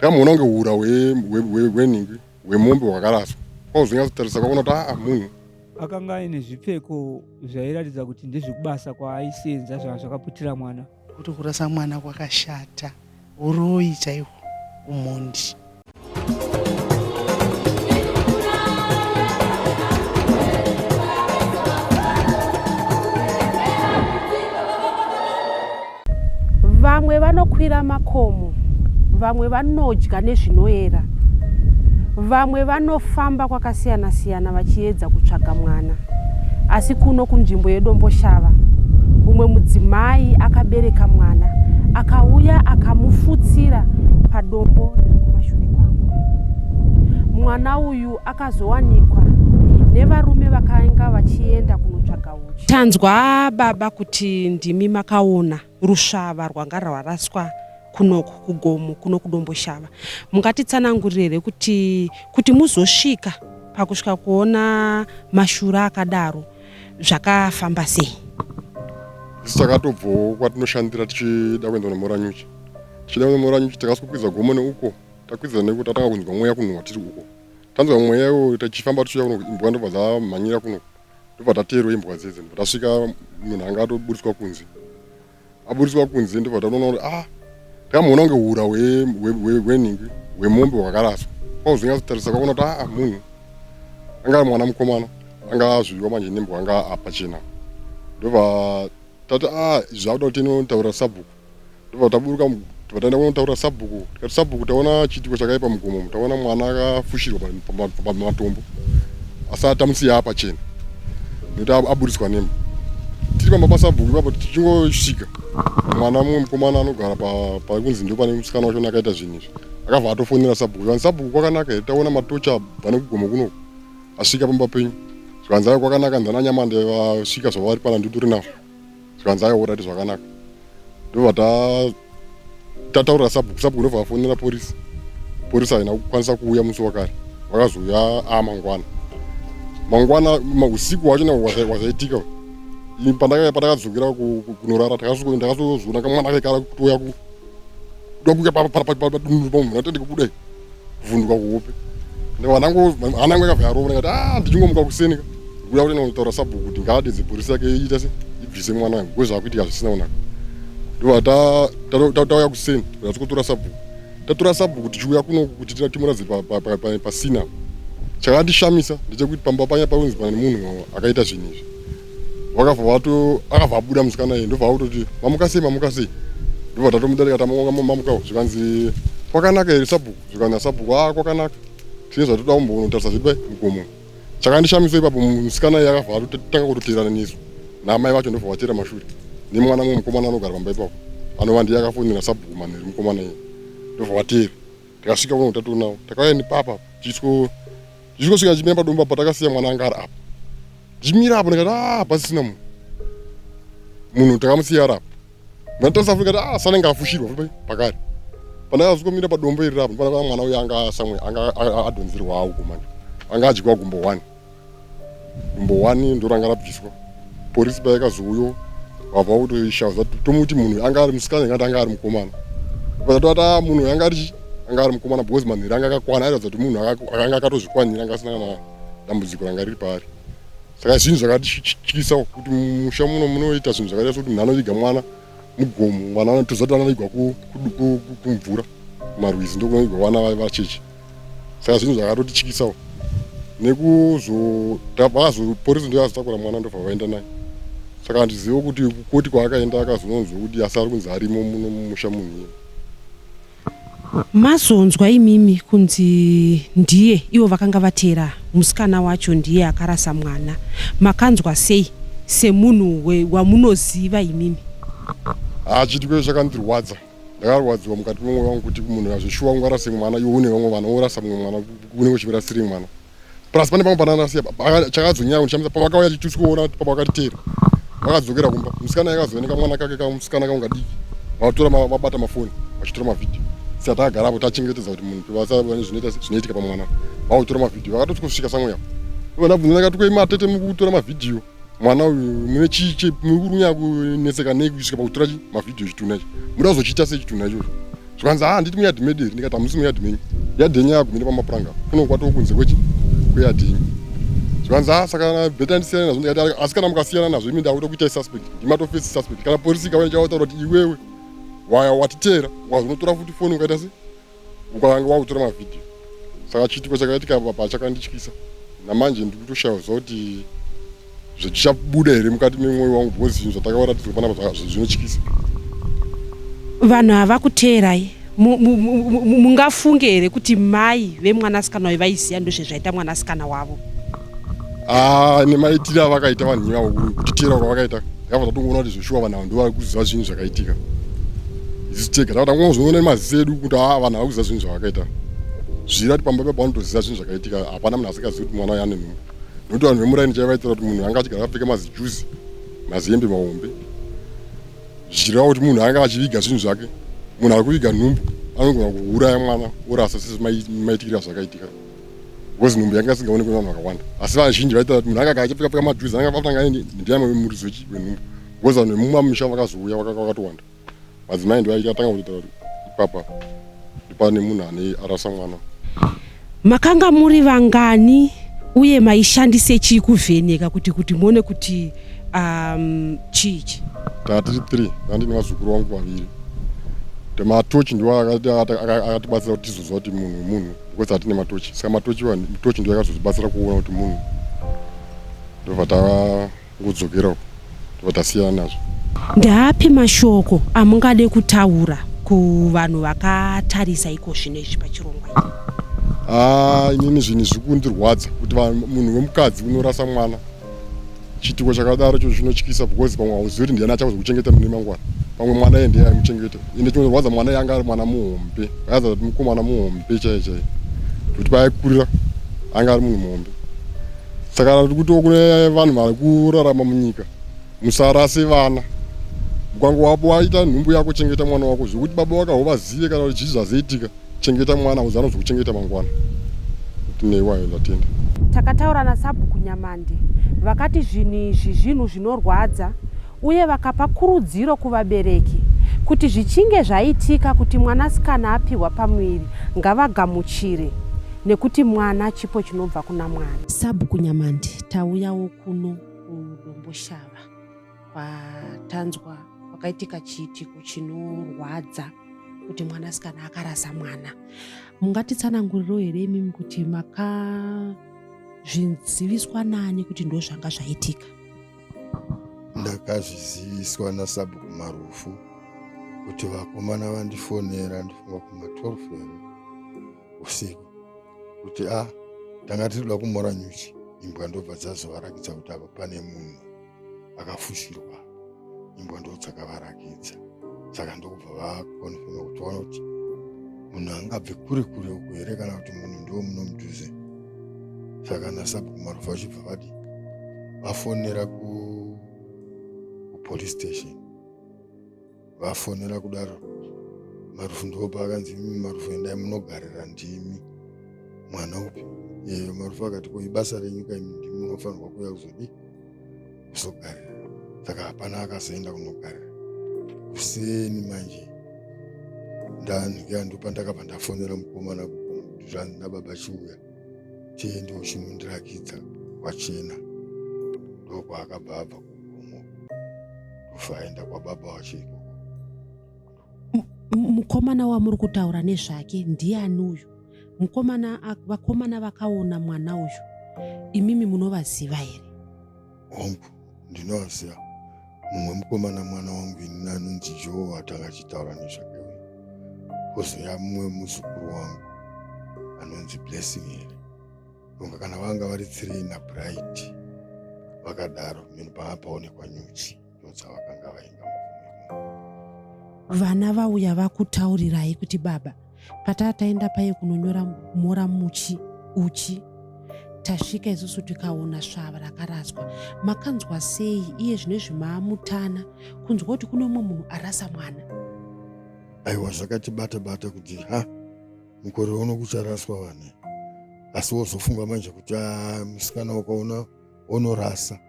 Ndakamuona kunge hura hwenhingi hwemombe hwakaraswa kwauzonyatsotarisa kwakuona kuti aa munhu akanga aine zvipfeko zvairatidza kuti ndezvekubasa kwaaisenza zvanga zvakaputira mwana kuti kurasa mwana kwakashata uroyi chaihwo umhondi vamwe vanokwira makomo vamwe vanodya nezvinoera vamwe vanofamba kwakasiyana siyana vachiedza kutsvaga mwana asi kuno kunzvimbo yedomboshava umwe mudzimai akabereka mwana akauya akamufutsira padombo riri kumashure kwangu mwana uyu akazowanikwa nevarume vakainga vachienda kunotsvaga Tanzwa baba kuti ndimi makaona rusvava rwanga rwaraswa kunoku kugomo kuno kudomboshava mungatitsanangurire here kuti kuti muzosvika pakusvika kuona mashura akadaro zvakafamba sei takatobvowo kwatinoshandira tichida kuenda kunomoranyuchi tichida kuenda moranyuchi takaswa kwiza gomo neuko takwidza nekuti tatanga kunzwa mweya kunhuwa tiri uko tanzwa mweya iwo tichifamba tichiuya kuno imbwa ndobva dzamhanyira kuno ndobva tateerwa imbwa dziye dzino tasvika munhu anga atoburitswa kunze aburitswa kunze ndobva tatoona kuti ah tikamuona kunge hura hwenhingi hwemombe hwakaraswa kwauzonyatsotarisa kwaona kuti aa ah, munhu anga mwana mukomana anga azviviwa manje nembwa anga apachena ndobva tati a ah, zvakuda kuti inotaura sabhuku ndobva taburuka tobva taenda kunotaurira sabhuku tikati sabhuku taona chiitiko chakaipa mugomo taona mwana akafushirwa pamatombo asi atamusiya apachena nekuti aburitswa nema tiri pamba pasabhuku ipapo tichingosvika mwana mumwe mukomana anogara pari kunzi ndo pane musikana wacho akaita zvinhu izvi akabva atofonera sabhuku zvanzi sabhuku kwakanaka here taona matocha abva nekugomo kunoku asvika pamba penyu zvikanzi ayo kwakanaka ndananyamande vasvika zvavari pana ndituri navo zvikanzi aiwa orati zvakanaka ndobva tataurira sabhuku sabhuku ndobva vafonera porisi porisi haina kukwanisa kuuya musi wakare vakazouya a mangwana mangwana usiku hwacho na wazaitika pandakadzokera kunorara ndakazoona kamwana kaikara kutoya kuda kuya padunuru pamunhu atende kubuda kuvhunduka kuhope hanangu akabva yarova ndikati a ah, ndichingomuka kuseni ka kuda kuti ndinotaura sabhuku kuti ngaadedze bhorisi yake iita se ibvise mwana wangu ko zvakuitika zvisina kunaka ndova tauya kuseni kuti tikotora sabhuku tatora sabhuku tichiuya kuno kuti timuradze pasina chakandishamisa ndechekuti pamba panya paunzi pane munhu akaita zvinhu izvi vakabva vato akabva abuda musikana iye ndobva akutoti mamuka sei mamuka sei ndobva tatomudarika tamamukawo zvikanzi kwakanaka here sabhuku zvikanzi asabhuku a ah, kwakanaka tine zvatoda kumbonotarisa zvedu pai mugomo chakandishamisa ipapo musikana iye akabva atotanga kutoteerana nesu naamai vacho ndobva vateera mashure nemwana mwe mukomana anogara pamba ipapo anova ndiye akafonera sabhuku manheri mukomana iye ndobva vateera tikasvika kuno tatonawo takauya nepapa tichityo zvichikosvika ndichimira padomba apo takasiya mwana anga ari apo ndichimira apo ndikati ah pasisina munhu munhu takamusiya ari apo ndatarisa futi ndikati ah sanenge afushirwa futi pakari pandakazongomira padombo iri rapo ndipana mwana uyo anga samwe anga adhonzerwa awo kumani anga adyiwa gumbo one Number one ndoranga rabviswa porisi payakazouyo vabva kutoishaza tomuti munhu anga ari musikana ingati anga ari mukomana vatoti a munhu yanga ari anga ari mukomana because manhiri anga akakwana airatidza kuti munhu akanga akatozvikwanira anga asina kana dambudziko ranga riri paari saka zvinhu zvakatityisa kuti musha muno munoita zvinhu zvakaita sokuti munhu anoviga mwana mugomo mwana anotoziva kuti anovigwa kumvura kumarwizi ndokunovigwa vana vacheche saka zvinhu zvakatotichikisawo nekuzoporisi ndiyo azotakura mwana ndobva vaenda naye saka handizive kuti kukoti kwaakaenda akazononzwa kuti asi ari kunzi arimo muno mumusha munhu iye mazonzwa imimi kunzi ndiye ivo vakanga vatera musikana wacho ndiye akarasa mwana makanzwa sei semunhu wamunoziva imimi hachitiko chakandirwadza ndakarwadziwa mukati memwoyo wangu kuti munhu azvishuwa kunge arase mwana iwe une vamwe vana worasa mumwe mwana unenge uchivirasiri mwana plus pane pamwe pananasiya chakazonyaya kundishamisa pavakauya chitusi kuona kuti papa vakatiteera vakadzokera kumba musikana yakazooneka mwana kake kamusikana kanga diki vatora vabata mafoni vachitora mavhidhiyo saka takagara apo tachengetedza kuti munhu vasavane zvinoitika pamwana vakutora mavhidhiyo vakatoti kusvika samweya ivo ndabvunza ndakati kweima atete mukutora mavhidhiyo mwana uyu mune chii chii muri kuri kunyaya kunetseka nei kusvika pakutora chi mavhidhiyo chitunha ichi muda kuzochiita sei chitunha ichocho zvikanzi haa handiti muyadhi medu here ndikati hamusi muyadhi menyu yadhi yenyu yagumire pamapuranga kuno kwatoo kunze kwechi kweyadhi yenyu zvikanzi haa saka bheta ndisiyana nazvo ndikati asi kana mukasiyana nazvo imi ndakuita kuitai suspect ndimatofesi suspect kana porisi ikauya ndichavautaura kuti iwewe waya watiteera wazvinotora futi foni ukaita sei ukavange wakutora mavhidhiyo saka chiitiko chakaitika papa chakandityisa namanje ndiri kutoshaya kuziva kuti zvechichabuda here mukati memwoyo wangu because zvinhu zvatakavaratidzwa panapa zvinotyisa vanhu havakuteerai mungafunge here kuti mai vemwanasikana uyu vaiziva ndozvezvaita mwanasikana wavo Ah, nemaitire avakaita vanhu ivavo kutitira kwavakaita yava tatongoona kuti zveshuwa vanhu ava ndovari kuziva zvinhu zvakaitika isu tega tava tangozoona nemaziso edu kuti a ah, vanhu ava kuziva zvinhu zvavakaita zviri ati pamba pepa vanotoziva zvinhu zvakaitika hapana munhu asikazivi kuti mwana uyo ane nhumbu nokuti vanhu vemuraini chaivaitira kuti munhu anga achigara apfeke mazijuzi maziyembe mahombe zvichireva kuti munhu anga achiviga zvinhu zvake munhu ari kuviga nhumbu anogona kuuraya mwana orasa sezvimaitikira zvakaitika because nhumbu yanga isingaonekwe vanhu vakawanda asi vazhinji vaita kuti munhu akaka achipfeka pfeka madhuzi anga vatanga aende ndiyamwe vemuridzo wenhumbu because vanhu vemumamisha vakazouya vakatowanda madzimai ndivaikatanga kutoita kuti ipapa ndipane munhu ane arasa mwana makanga muri vangani uye maishandise chii kuvheneka kuti kuti muone kuti um, chii chi tatiri three andini vazukuru vangu vaviri tematochi ndiwo akatibatsira kuti tizoziva kuti munhu munhu because hatine matochi saka matochi wani mitochi ndiyo yakazotibatsira kuona kuti munhu ndobva tangodzokera uko ndobva tasiyana nazvo ndaapi mashoko amungade kutaura kuvanhu vakatarisa iko zvino izvi pachirongwa ichi haa ah, inini zvinhu zviri kundirwadza kuti munhu wemukadzi unorasa mwana chituko chakadaro cho chinotyisa because pamwe hauzivi kuti ndiani achakuzokuchengeta mune mangwana pamwe mwana ye ndiye aimuchengeta ende chinorwadza mwana yanga ari mwana muhombe aiza kuti mukomana muhombe chaiye chaiye kuti paaikurira anga ari munhu muhombe saka tiri kutiwo kune vanhu vari kurarama munyika musarase vana ukange wapo waita nhumbu yako chengeta mwana wako zvekuti baba wakaho vazive kana kuti chii zvazaitika chengeta mwana uzi anozokuchengeta mangwana kuti neiwayo ndatenda takataura nasabhuku nyamande vakati zvinhu izvi zvinhu zvinorwadza uye vakapa kurudziro kuvabereki kuti zvichinge zvaitika kuti mwanasikana apihwa pamuviri ngavagamuchire nekuti mwana chipo chinobva kuna mwari sabhuku nyamande tauyawo kuno kudomboshava patanzwa pakaitika chiitiko chinorwadza kuti mwanasikana akarasa mwana mungatitsananguriro here imimi kuti makazviziviswa nani kuti ndo zvanga zvaitika ndakazviziviswa nasabhuku marufu kuti vakomana vandifonera ndifunga kuma 12 here usiku kuti a ah, tanga tiri kuda kumora nyuchi imbwa ndobva dzazovarakidza kuti apa pane munhu vakafushirwa imbwa ndodzakavarakidza saka ndokubva vakonfirma kuti vaona kuti munhu angabve kure kure uku here kana kuti munhu ndiwo muno mudhuze saka nasabhuku marufu vachibva vadi vafonera kupolice station vafonera kudaro marufu ndipo paakanzi imi marufu endai munogarira ndimi mwana upi yeyo marufu akati ko ibasa renyu kaimi ndimi munofanirwa kuuya kuzodii kuzogarira saka hapana akazoenda kunogarira kuseni manje ndandikandopandakabva ndafonera mukomana kuti zvanzi nababa chiuya chii ndiwo chinondirakidza kwachena ndokwaakabva abva kugomo ndofa aenda kwababa wacho ikoko mukomana wamuri kutaura nezvake ndiani uyu mukomana vakomana vakaona mwana uyu imimi munovaziva here hongu ndinoaziva mumwe mukomana mwana wangu ini anonzi joe atanga achitaura nezvake uyu kozoya mumwe muzukuru wangu anonzi blessing here kunga kana vanga vari three nabright vakadaro mheni panga paonekwa nyuchi ndodzavakanga vainga vana vauya vakutaurirai kuti baba pataa taenda paye kunonyora mhora muchi uchi tasvika isusu tikaona svava rakaraswa makanzwa sei iye zvine zvimaamutana kunzwa kuti kune umwe munhu arasa mwana aiwa zvakatibata bata kuti ha mukore uno kucharaswa vane asi wozofunga manje kuti ah, musikana wakaona onorasa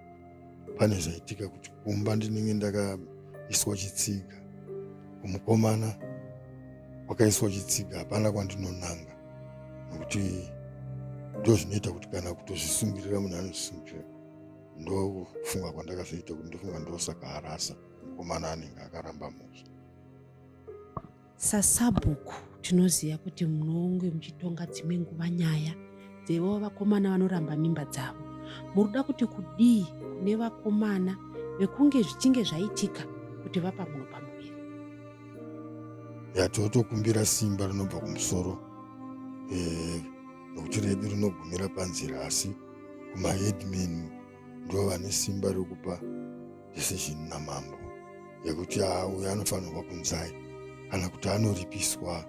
pane zvaitika kuti kumba ndinenge ndakaiswa chitsiga kumukomana kwakaiswa chitsiga hapana kwandinonanga nokuti ndo zvinoita kuti kana kutozvisungirira munhu anozvisungirira ndofunga kwandakazoita kuti ndofunga ndosaka arasa mukomana anenge akaramba musha Sasabhuku tinoziva kuti munonge muchitonga dzimwe nguva nyaya dzevo vakomana vanoramba mimba dzavo. Muruda kuti kudii kune vakomana vekunge zvichinge zvaitika kuti vapa munhu pamuviri? Yatotokumbira simba rinobva kumusoro eh, nokuti redu rinogumira panzira asi kumaheadman ndivo vane simba rekupa decision namambo yekuti a ah, uyo anofanirwa kunzai kana kuti anoripiswa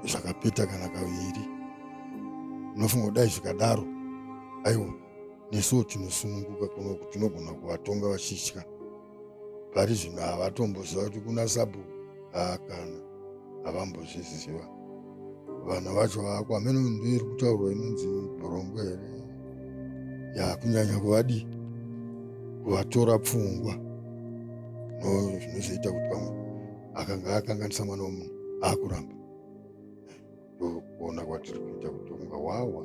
zvakapeta kana kaviri unofunga kudai zvikadaro aiwa nesuwo tinosununguka kuno kuti tinogona kuvatonga vachitya pari zvino havatomboziva kuti kuna sabhuku haakana havambozviziva vanhu vacho vako hameno ndo iri kutaurwa inonzi bhorongo here ya kunyanya kuvadii kuvatora pfungwa no zvinozoita kuti pamwe akanga akanganisa mwana womunhu akuramba ndokuona kwatiri kuita kuti unga wawa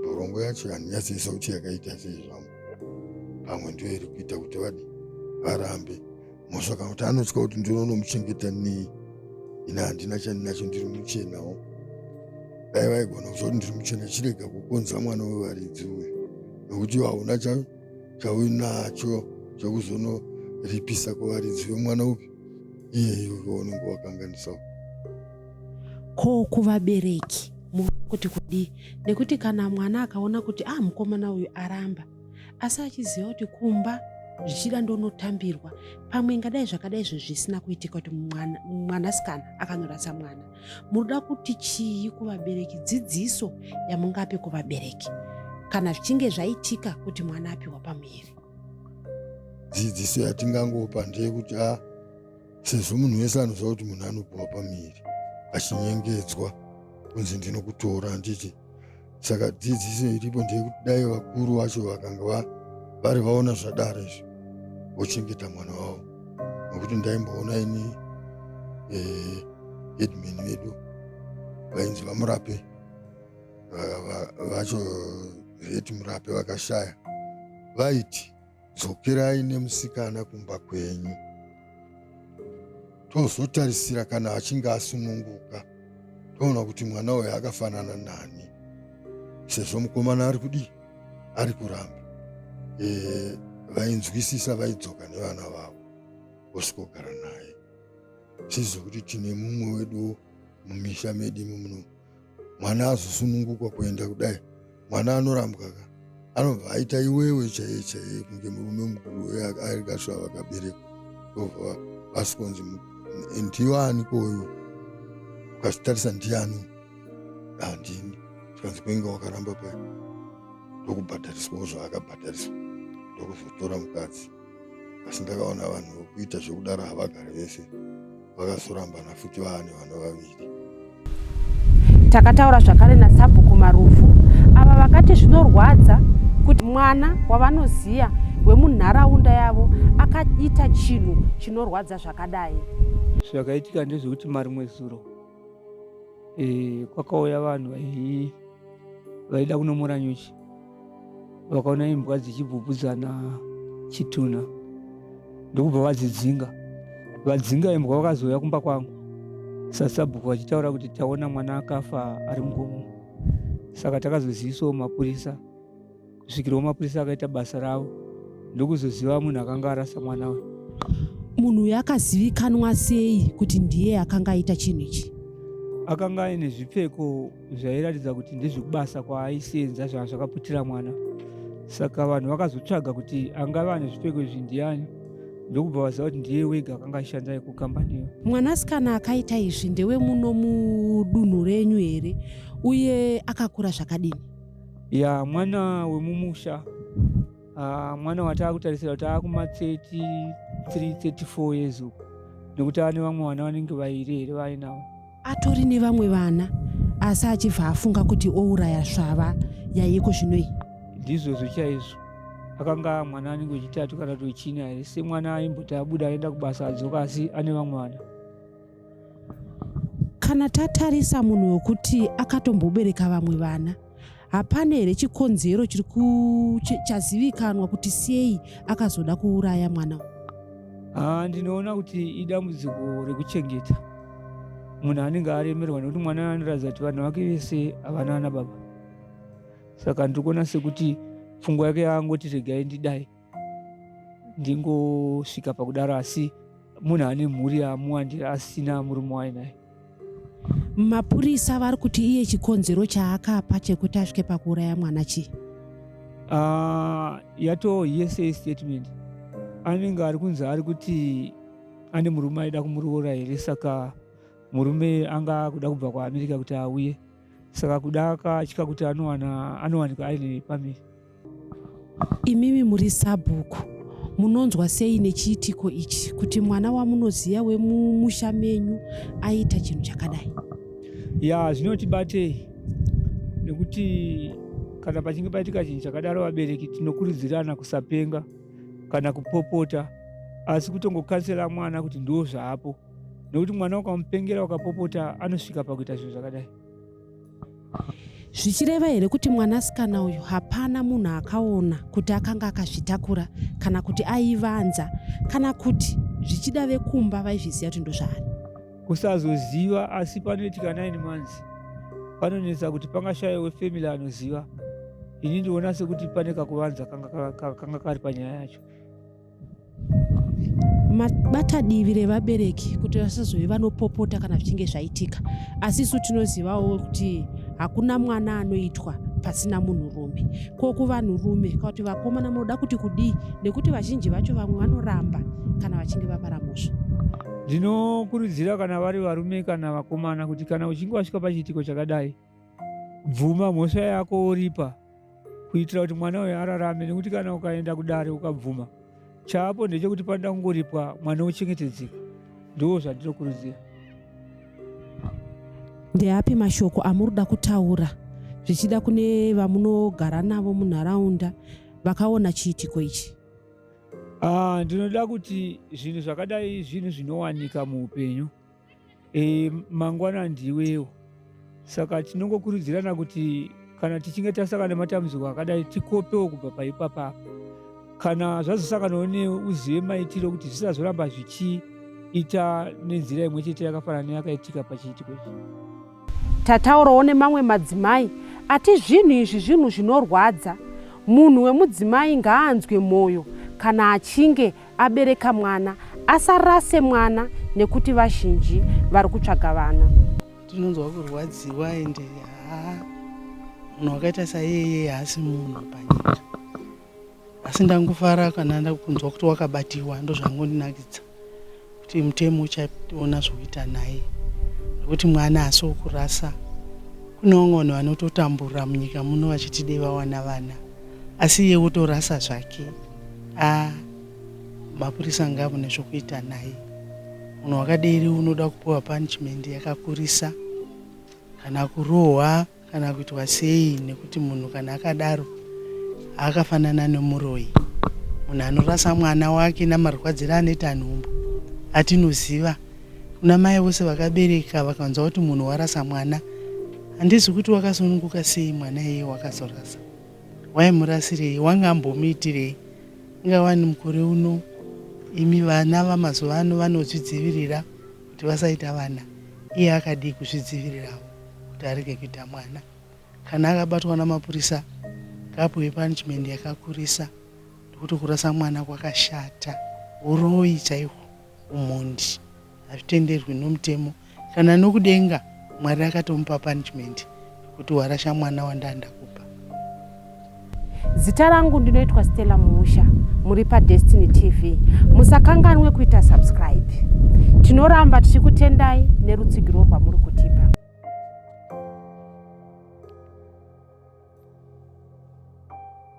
borongo yacho handinyatsi isauti yakaita sei zvangu pamwe ndiyo iri kuita kuti vadi varambe mhosva kana kuti anotya kuti ndinonomuchengeta nei ini handina chandinacho ndiri muchenawo dai vaigona kuziva kuti ndiri muchena chirega kukonza mwana wevaridzi uyu nokuti hauna chauinacho chekuzonoripisa kuvaridzi vemwana upi iyeyo unenge wakanganisawo ko kuvabereki kuti kudii nekuti kana mwana akaona kuti ah mukomana uyu aramba asi achiziva kuti kumba zvichida ndonotambirwa pamwe ingadai zvakadai izvo zvisina kuitika kuti mwanasikana akanorasa mwana munoda kuti chii kuvabereki dzidziso yamungape kuvabereki kana zvichinge zvaitika kuti mwana apiwa pamuviri dzidziso yatingangopa ndeyekuti a ah, sezvo munhu wese anoziva kuti munhu anopiwa pamiri achinyengedzwa kunzi ndinokutora handiti saka dzidziso iripo ndeyekuti dai vakuru vacho vakanga vari vaona zvadaro izvo vochengeta mwana wavo nokuti ndaimboona ini eh, headman vedu vainzi vamurape vacho veti murape vakashaya vaiti Dzokerai nemusikana kumba kwenyu tozotarisira kana achinge asununguka toona kuti mwana uyo akafanana nani sezvo mukomana ari kudii ari kuramba e, vainzwisisa vaidzoka nevana vavo vosvikogara naye tizive kuti tine mumwe wedu mumisha medu imi muno mwana azosununguka kuenda kudai mwana anorambwa ka anobva aita iwewe chaiye chaiye kunge murume mukuru uye ari kasva vakaberekwa ova vasikonzi ndiyo aniko uyu ukazitarisa ndiyani handini zvikanzi kuinge wakaramba pai ndokubhadhariswawo zvaakabhadhariswa ndokuzotora mukadzi asi ndakaona vanhu vokuita zvokudaro havagari vese vakazorambana futi vaane vana vaviri takataura zvakare nasabhuku marufu ava vakati zvinorwadza kuti mwana wavanoziva wemunharaunda yavo akaita chinhu chinorwadza zvakadai zvakaitika ndezvekuti marimwe zuro e, kwakauya vanhu vaii vaida kunomora nyuchi vakaona imbwa dzichibvubvudzana chitunha ndokubva vadzidzinga vadzinga imbwa vakazouya kumba kwangu sasabhuku vachitaura kuti taona mwana akafa ari mugomo saka takazozivisawo mapurisa kusvikira wamapurisa akaita basa ravo ndokuzoziva munhu akanga arasa mwana uyu munhu uyu akazivikanwa sei kuti ndiye akanga aita chinhu ichi akanga aine zvipfeko zvairatidza kuti ndezvekubasa kwaaisenza zvanga zvakaputira mwana saka vanhu vakazotsvaga kuti angava ane zvipfeko izvi ndiani ndokubva vaziva kuti ndiye wega akanga achishanda iko kambaniyo mwanasikana akaita izvi ndewe muno mudunhu renyu here uye akakura zvakadini ya mwana wemumusha uh, mwana wataakutarisira kuti akumatseti 334 years uku nekuti ane vamwe vana vanenge vairi here vainawo atori nevamwe vana asi achibva afunga kuti ouraya svava yaiko zvino iyi ndizvozvo chaizvo akanga mwana anenge wechitatu kana kuti wechina here semwana aimboti abuda aenda kubasa adzoka asi ane vamwe vana kana tatarisa munhu wekuti akatombobereka vamwe vana hapana here chikonzero chiri chazivikanwa kuti sei akazoda kuuraya mwana ah, ndinoona kuti idambudziko rekuchengeta munhu anenge aremerwa nekuti mwana anoratidza kuti vanhu vake vese havana ana baba saka ndiri kuona sekuti pfungwa yake yaangoti regai ndidai ndingosvika pakudaro asi munhu ane mhuri yamuwandira asina murume wainaye mapurisa vari kuti iye chikonzero chaakapa chekuti asvike pakuuraya mwana chii uh, yatoo yese statement anenge ari kunzi ari kuti ane murume aida kumuroora here saka murume anga akuda kubva kuamerica kuti auye saka kuda akatya kuti anowanikwa ari nepamiri imimi muri sabhuku munonzwa sei nechiitiko ichi kuti mwana wamunoziva wemumusha menyu aita chinhu chakadai ya zvinotibatei nekuti kana pachinge paitika chinhu chakadaro vabereki tinokurudzirana kusapenga kana kupopota asi kutongokansela mwana kuti ndo zvaapo nekuti mwana ukamupengera ukapopota anosvika pakuita zvinhu zvakadai zvichireva here kuti mwanasikana uyu hapana munhu akaona kuti akanga akazvitakura kana kuti aivanza kana kuti zvichida vekumba vaizviziva kuti ndozvaari kusazoziva asi panoitika nine months panonetsa kuti pangashaya wefamily anoziva ini ndiona sekuti pane kakuvanza kanga kari panyaya yacho bata divi revabereki kuti vasazove vanopopota kana zvichinge zvaitika asi isu tinozivawo kuti hakuna mwana anoitwa pasina munhurume ko kuvanhurume ka kuti vakomana munoda kuti kudii nekuti vazhinji vacho vamwe vanoramba kana vachinge vapara mhosva ndinokurudzira kana vari varume kana vakomana kuti kana uchinge wasvika pachiitiko chakadai bvuma mhosva yako woripa kuitira kuti mwana uyo ararame nekuti kana ukaenda kudare ukabvuma chaapo ndechekuti panoda kungoripwa mwana ochengetedzeka ndoo zvandinokurudzira ndeapi mashoko amuri kuda kutaura zvichida kune vamunogara navo munharaunda vakaona chiitiko ichi Ah, ndinoda kuti zvinhu zvakadai zvinhu zvinowanika muupenyu e, mangwana ndiwewo saka tinongokurudzirana kuti kana tichinge tasangana nematambudziko akadai tikopewo kubva paipapa kana zvazosanganawo neuzive maitiro kuti zvisazoramba zvichiita nenzira imwe chete yakafanana neyakaitika pachiitiko ichi Tataurawo nemamwe madzimai ati zvinhu izvi zvinhu zvinorwadza. Munhu wemudzimai ngaanzwe mwoyo kana achinge abereka mwana, asarase mwana nekuti vazhinji vari kutsvaga vana. Tinonzwa kurwadziwa ende haa munhu wakaita saiyeye haasi munhu panyika. asi ndangofara kana ndakunzwa kuti wakabatiwa ndozvangondinakidza kuti mutemo uchaona zvokuita naye nekuti mwana haasi wokurasa kune vamwe vanhu vanototambura munyika muno vachiti dei vawana vana asi iye wotorasa zvake a mapurisa ngavune zvokuita naye munhu wakaderi unoda kupiwa punishment yakakurisa kana kurohwa kana kuitwa sei nekuti munhu kana akadaro akafanana nemuroyi munhu anorasa mwana wake namarwadziro anoita nhumbu atinoziva kuna mai vose vakabereka vakanzwa kuti munhu warasa mwana handizi kuti wakasununguka sei mwana iye wakazorasa waimurasirei wanga ambomuitirei ingawani mukore uno imi vana vamazuva ano vanozvidzivirira kuti vasaita vana iye akadii kuzvidzivirirawo kuti arege kuita mwana kana akabatwa namapurisa ngapuwe punishment yakakurisa nekuti kurasa mwana kwakashata uroyi chaihwo umhondi hazvitenderwi nomutemo kana nokudenga mwari akatomupa punishment Kuti warasha mwana wanda ndakupa. Zita rangu ndinoitwa Stella Muusha muri pa Destiny TV. Musakanganwe kuita subscribe. Tinoramba tichikutendai nerutsigiro rwamuri kutipa.